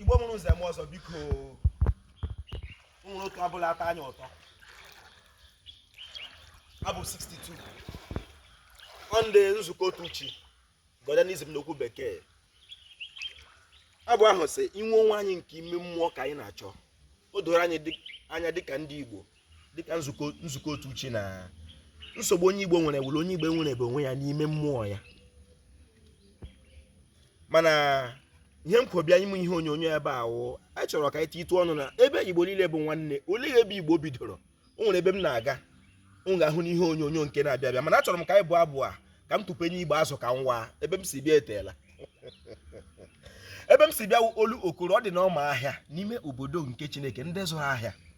igbo mụrụ nze mụọ ọzọ biko were otu abụ la ata anya ụtọ abụ 62 nde nzukọ otu chi Godianism n'okwu bekee abụ ahụ sị inwe onwe anyị nke ime mmụọ ka anyị na-achọ o doro anyị anya dịka ndị igbo dịka nzukọ otu chi na nsogbu onye Igbo nwere wụrụ onye Igbo enwerebe onwe ya n'ime mmụọ ya mana ihe m kwo bịa ime ihe onyonyo ebe a wụ anyị chọrọ ka anyị titụ ọnụ na ebe Igbo niile bụ nwanne olee ebe Igbo bidoro o nwere ebe m na-aga m ga-ahụ n'ihe onyonyo nke na-abịa abịa mana achọrọ m ka anyị bụọ abụ a ka m tụpenye igbe azụ ka m waa ebe m si bịa eteela ebe m si bịa olu okoro ọ dị n'ọma ahịa n'ime obodo nke Chineke ndị zụrụ ahịa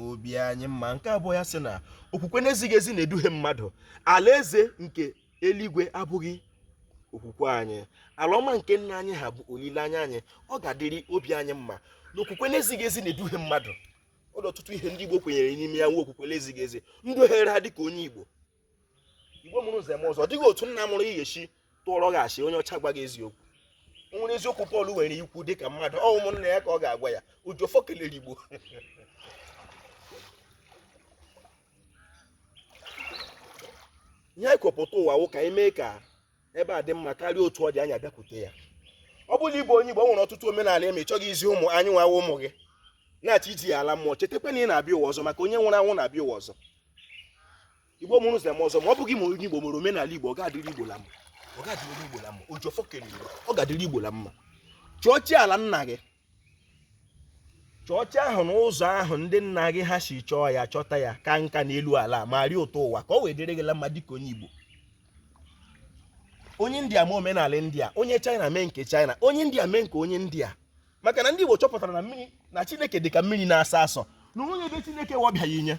obi anyị mma nke abụọ ya sị na okwukwe na-ezighị ezi na-eduhie mmadụ alaeze nke eluigwe abụghị okwukwe anyị ala ọma nke nna anyị ha bụ olileanya anyị ọ ga-adịrị obi anyị mma na okwukwe na-ezighị ezi na-eduhie mmadụ ọ dị ọtụtụ ihe ndị Igbo kwenyere n'ime ya wụ okwukwe na-ezighị ezi duhiere ha dị ka onye Igbo Igbo mụrụ nze mụọ ọzọ ọ dịghị otu nna mụrụ gị esi tụọrọ gị asị onye ọcha gwa gị eziokwu o nwere eziokwu Pọl nwere ikwu dị ka mmadụ ọ ụmụnna ya ka ọ ga-agwa ya ojiọfọ kelere Igbo ihe anyị kwo pụta ụwa wụ ka anyị mee ka ebe a dị mma karịa otu ọ dị anyị abịakwute ya ọ bụ la ị bụ onye Igbo o nwere ọtụtụ omenala ị ma ị chọghị izi ụmụ anyị nwa wụ ụmụ gị na-achọ iji ya ala mmụọ chetakwa na ị na-abịa ụwa ọzọ maka onye nwụrụ anwụ na-abịa ụwa ọzọ Igbo mụrụ nze mụọ ọzọ ma ọ bụghị ma onye Igbo mere omenala Igbo ọ ga-adịrị Igbo la mma ọ ga-adịrị Igbo la mma ojiọfọ kelere ọ ga-adịrị Igbo la mma chọọ chi ala nna gị chọọ chi ahụ na ụzọ ahụ ndị nna gị ha si chọọ ya chọta ya kaa nka n'elu ala ma rie ụtọ ụwa ka ọ wee dịrị gị la mma dịka onye Igbo onye India mee omenala India onye China mee nke China onye India mee nke onye India maka na ndị Igbo chọpụtara na mmiri na Chineke dị ka mmiri na-asọ asọ na o nweghị ebe Chineke nwa abịaghị inye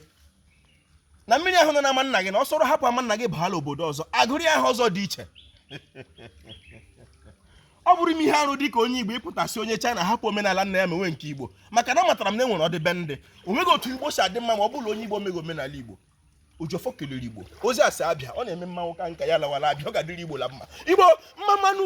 na mmiri ahụ nọ na ama nna gị na ọ sọrọ hapụ ama nna gị baa la obodo ọzọ a gụrụ ya aha ọzọ dị iche ọ bụrụ m ihe arụ dị ka onye igbo ị pụta sị onye china hapụ omenala nna ya mewe nke igbo maka na amatara m na e nwere ọdịbendị o nweghị otu igbo si adị mma ma ọ bụrụ onye igbo emeghị omenala igbo ojiọfọ kelere igbo ozi asị abịa ọ na-eme mmanwụ ka nka ya lawara abịa ọ ga-adịrị igbo la mma igbo mma mma nụ